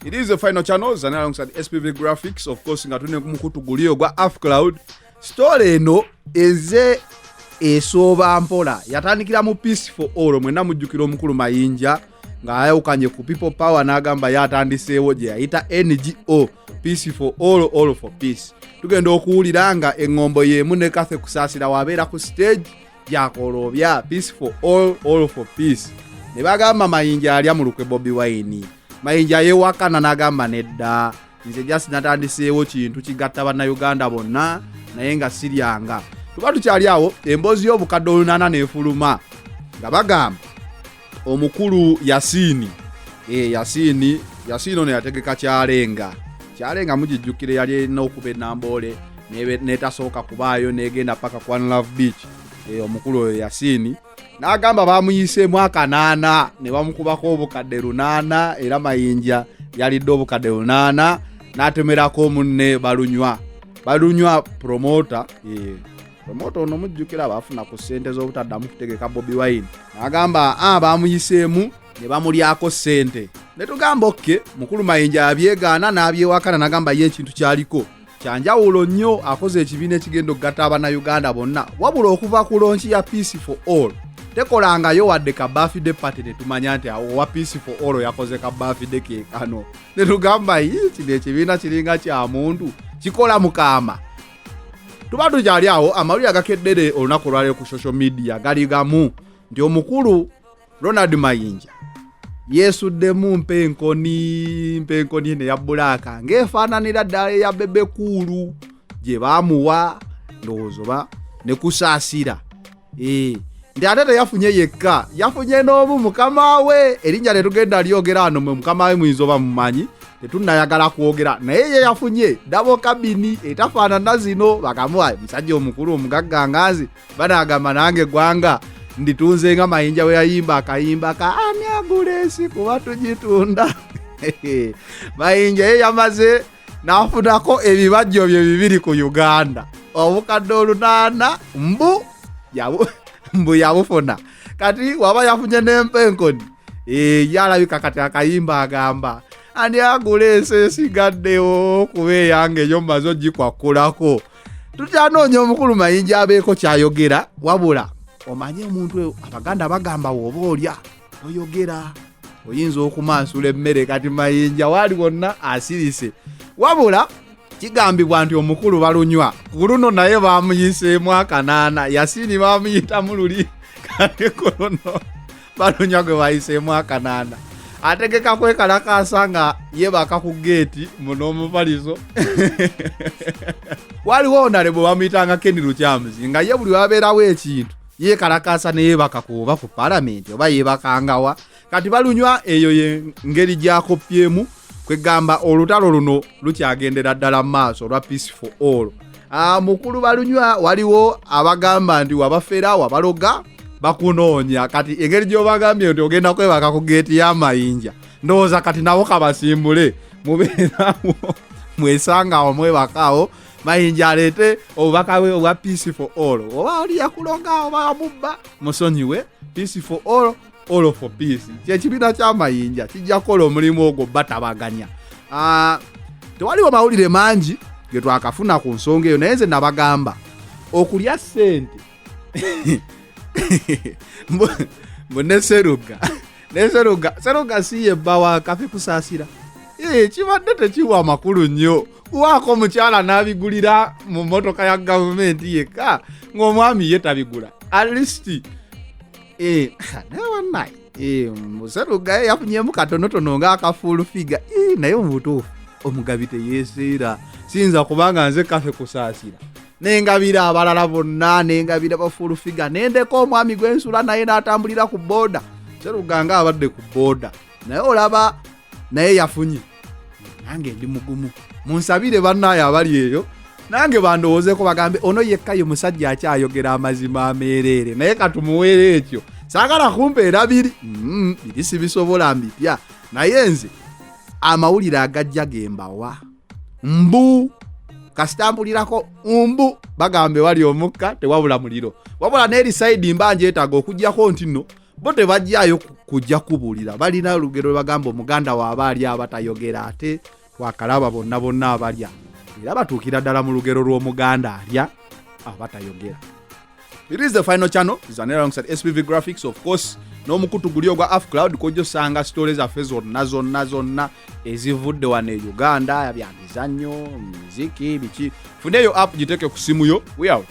It is the final channel zana alongside SPV Graphics of course nga tune kumukutu guliyo gwa Af Cloud story eno eze esooba mpola yatandikira mu peace for all mwena mujjukira omukulu mayinja ng'ayawukanye ku people power n'agamba yatandiseewo gye yayita ngo peace for all all for peace tugenda okuwulira nga eŋŋombo y'emu ne kathe kusaasira wabeera ku stage byakolobya peace for all all for peace ne bagamba mayinja alya mu lukwe bobi wine mayinja yewakana n'agamba nedda nze just natandiseewo kintu kigatta bannayuganda bonna naye nga siryanga tuba tukyali awo emboozi y'obukadde olunaana nefuluma nga bagamba omukulu yasiini e, eh, yasiini yasiini ono yategeka kyalenga kyalenga mugijjukire yali erina okuba enamboole netasooka kubaayo negenda paka kwan love beach e, omukulu oyo yasiini n'agamba bamuyiseemu akanaana ne bamukubako obukadde lunaana era mayinja yalidde obukadde lunaana n'atemerako omunne balunywa balunywa promota e, promota ono mujjukira baafuna ku ssente z'obutaddamu kutegeka bobi wine agamba a ah, baamuyiseemu ne bamulyako ssente ne tugamba okke mukulu mayinja abyegaana n'abyewakana nagamba ye ekintu kyaliko kyanjawulo nnyo akoze ekibiina ekigenda okugatta abanayuganda bonna wabula okuva ku lonki ya peace for all tekolangayo wadde ka bafide pati netumanya nti awo owa peace for all yakoze ka bafide kekano netugamba yi kino ekibiina kiringa kya muntu kikola mukama tuba tukyali awo amawulire agakeddere olunaku olwaliro ku social media gali gamu nti omukulu ronald mayinja yeesuddemu mpenkoni mpenkoni eno eya bulaaka ng'efaananira ddala eya bebekuulu gye baamuwa ndowooza oba ne kusaasira eh, nti ate teyafunye yekka yafunye n'omu mukama we erinnya tetugenda lyogera wano mwe mukama we muyinza oba mumanyi tetunayagala kwogera naye ye yafunye dabo kabini etafaanana zino bakamuwa musajja omukulu omugagga nganzi banagamba nange eggwanga nditunze nga mayinja we yayimba akayimba ka ani agula ensi kuba tugitunda mayinja ye yamaze nafunako ebibajjo bye bibiri ku uganda obukadde olunaana mbu mbu yabufuna kati waba yafunye n'empa enkoni eh, yalabika kati akayimba agamba ani agula ensi esigaddewo kuba eyange eyo mumaze ogikwakulako tukyanoonya omukulu mayinja abeeko kyayogera wabula omanye omuntu abaganda bagamba woba olya oyogera oyinza okumansula emmere kati mayinja waali wonna asirise wabula kigambibwa nti omukulu balunywa ku luno naye bamuyiseemu akanaana yasiini bamuyitamu luli kati ku luno balunywa gwe bayiseemu akanaana ategeka kwekalakaasa nga yebaka ku geeti muno omupalizo waliwo onale bwe bamuyitanga keni lukyamuzi nga ye buli wabeerawo ekintu yekalakaasa neyebaka ku oba ku palamenti oba yebakangawa kati balunywa eyo yengeri gyakopyemu kwegamba olutalo luno lukyagendera ddala mu maaso olwa peace for all ah, mukulu balunywa waliwo abagamba nti wabafera wabaloga bakunoonya kati engeri gyobagambye nti ogenda kwebaka ku geeti y'amayinja ndowooza kati nabo kabasimbule mubeerawo mwesangawo mwebakaawo mayinja aleete obubaka bwe obwa peace for all oba oli yakuloga oba wamubba musonyiwe peace for all all for peace kyekibiina kyamayinja kijja kukola omulimu ogwo batabaganya ah, tewaliwo mawulire mangi getwakafuna ku nsonga eyo naye nze nabagamba okulya sente mbu ne seruga ne seruga seruga si ye bba wa kafi kusasira ee kibadde tekiwa amakulu nnyo kuwaako omukyala n'abigulira mu mmotoka ya gavumenti yekka ng'omwami ye tabigula at least ee naye wanaye ee museruga ye yafunyemu katonotono ng'akafuulu figa ee naye mu butuufu omugabi teyeeseera siyinza kubanga nze kafe kusaasira nengabira abalala bonna nengabira bafulufiga nendeka omwami gwensula naye natambulira ku boda seruganga abadde ku boda naye olaba naye yafunye nange ndi mugumu munsabire bannaayo abali eyo nange bandowoozeko bagambe ono yekka ye musajja akyayogera amazima ameereere naye katumuweera ekyo saagala kumpeera biri mm, biri sibisobola mbipya naye nze amawulire agajja gembawa mbu kasita mpulirako mbu bagamba ewali omukka tewabula muliro wabula n'eri saidi mba njetaaga okugyako nti no bo tebajjayo kujja kubuulira balina olugero lwe bagamba omuganda waaba ali abatayogera ate wakalaba bonna bonna abalya era batuukira ddala mu lugero lw'omuganda alya abatayogera It is the final channel zanera alongside SPV graphics of course n'omukutu guli ogwa af cloud kojja osanga sitole zaffe zonna zonna zonna ezivudde wano e uganda bya mizannyo miziki biki funeeyo app giteeke ku simu yo we out